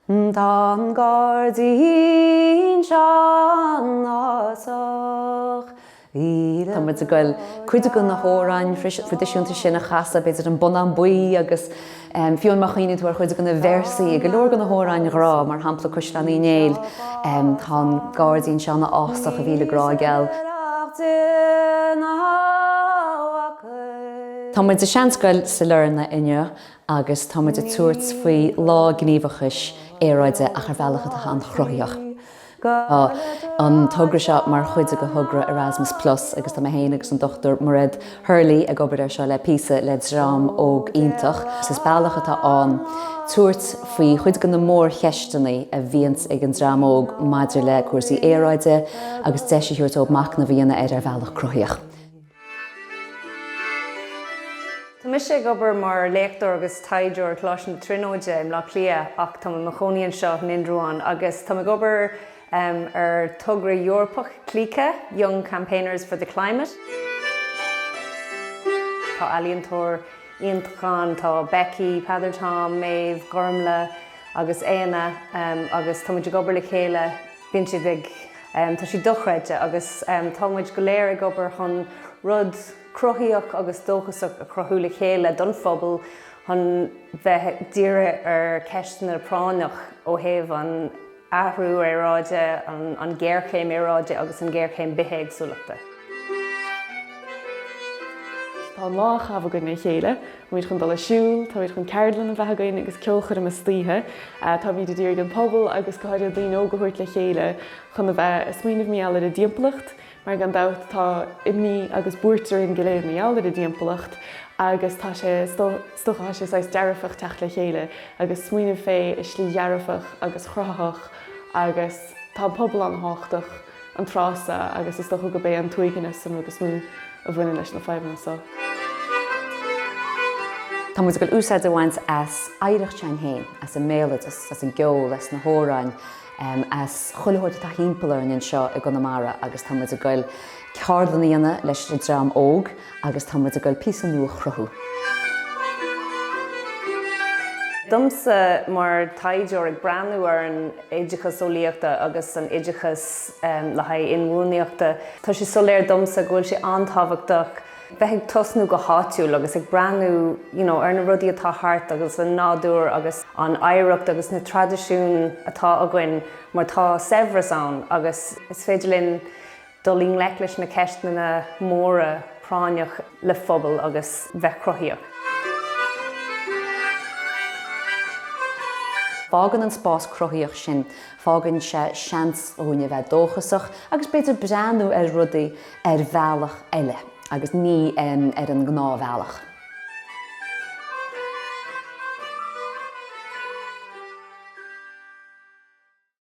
Tá an gairdín seo ina fhásach. Tá muid ag goil cuid de na h-amhráin thraidisiúnta sin a chasadh, b'fhéidir An Bonnán Buí agus fiú amháin má chuimhníonn tú ar chuid de na véarsaí i go leor de na h-amhráin ghrá, mar shampla Caisleán Uí Néill, Tá an gairdín seo ina fhásach a mhíle grá geal. Tá muid i seanscoil Sailearna inniu agus tá muid ag tabhairt faoi Lá Gníomhachais Aeráide ach ar bhealach atá an-chruthaitheach. Tá an togra seo mar chuid de thogra Erasmus Plus agus tá mé féin agus an Dr Mairéad Hurley ag obair air seo le píosa le dream óg iontach. Is bealach atá ann tabhairt faoi chuid de na mórcheisteanna a bhíonns ag an dream óg maidir le cúrsaí aeráide agus deis a thabhairt dóibh macnamh a dhéanamh air ar bhealach cruthaitheach. Tá mise ag obair mar léachtóir agus taighdeoir i gColáiste na Tríonóide i mBleá Cliath ach táim i mo chónaí anseo in Indreabhán agus táim ag obair ar togra Eorpach Clíce, Young Campaigners for the Climate. Tá ealaíontóir iontach ann, tá Becky, Peadar Tom, Méabh, Gormlaith agus Éanna agus táimid ag obair le chéile, Bíonn siad ag, tá siad dochreidte agus tá muid go léir ag obair chun rud cruthaíoch agus dóchasach a chruthú le chéile don phobal chun bheith dírithe ar ceisteanna práinneach ó thaobh an athrú aeráide, an géarchéim aeráide agus an géarchéim bithéagsúlachta. Tá an lá á chaitheamh againn le chéile Táimíd chun dul ag siúl, táimíd chun ceardlann a bheith againn agus ceolchoirm istoíche. Táimíd a d'iarraidh an pobal agus go háirithe daoine óga a thabhairt le chéile chun a bheith a smaoineamh mar gheall ar an dtimpeallacht mar gan dabht tá imní agus buairt orainn go léir mar gheall ar an dtimpeallacht agus tá sé is dócha tá sé saghas dearfach teacht le chéile agus smaoineamh fé i slí dhearfach agus chruthaitheach agus tá an pobal ana thábhachtach. an tráth so agus is dócha gurb é an t-uaigneas an rud is mó a bhaineann leis na fadhbanna so. Tá muid ag dul úsáid a bhaint as oidhreacht s'againn fhéin, as an mbéaloideas, as an gceol, as na hamhráin, as chuile shórt atá thimpeall orainn anseo i gConamara agus tá muid ag dul ceardlann a dhéanamh leis an dream óg agus tá muid ag dul píosa nua a chruthú. Domsa, mar taighdeoir, ag breathnú ar an. oideachas eolaíochta agus an oideachas le haghaidh inbhuannaíochta, tá sé soiléir domsa go bhfuil sé an-tábhachtach bheith ag tosnú go háitiúil agus ag breathnú you know ar na rudaí atá thart agus an nádúr agus an oidhreacht agus na traidisiúin atá againn mar tá saibhreas ann agus is féidir linn dul i ngleic leis na ceisteanna móra práinneach le phobal agus bheith cruthaíoch. Fágann an spás cruthaíoch sin, fágann sé seans dhúinn a bheith dóchasach agus b'fhéidir breathnú ar rudaí ar bhealach eile agus ní ar an ngnáthbhealach.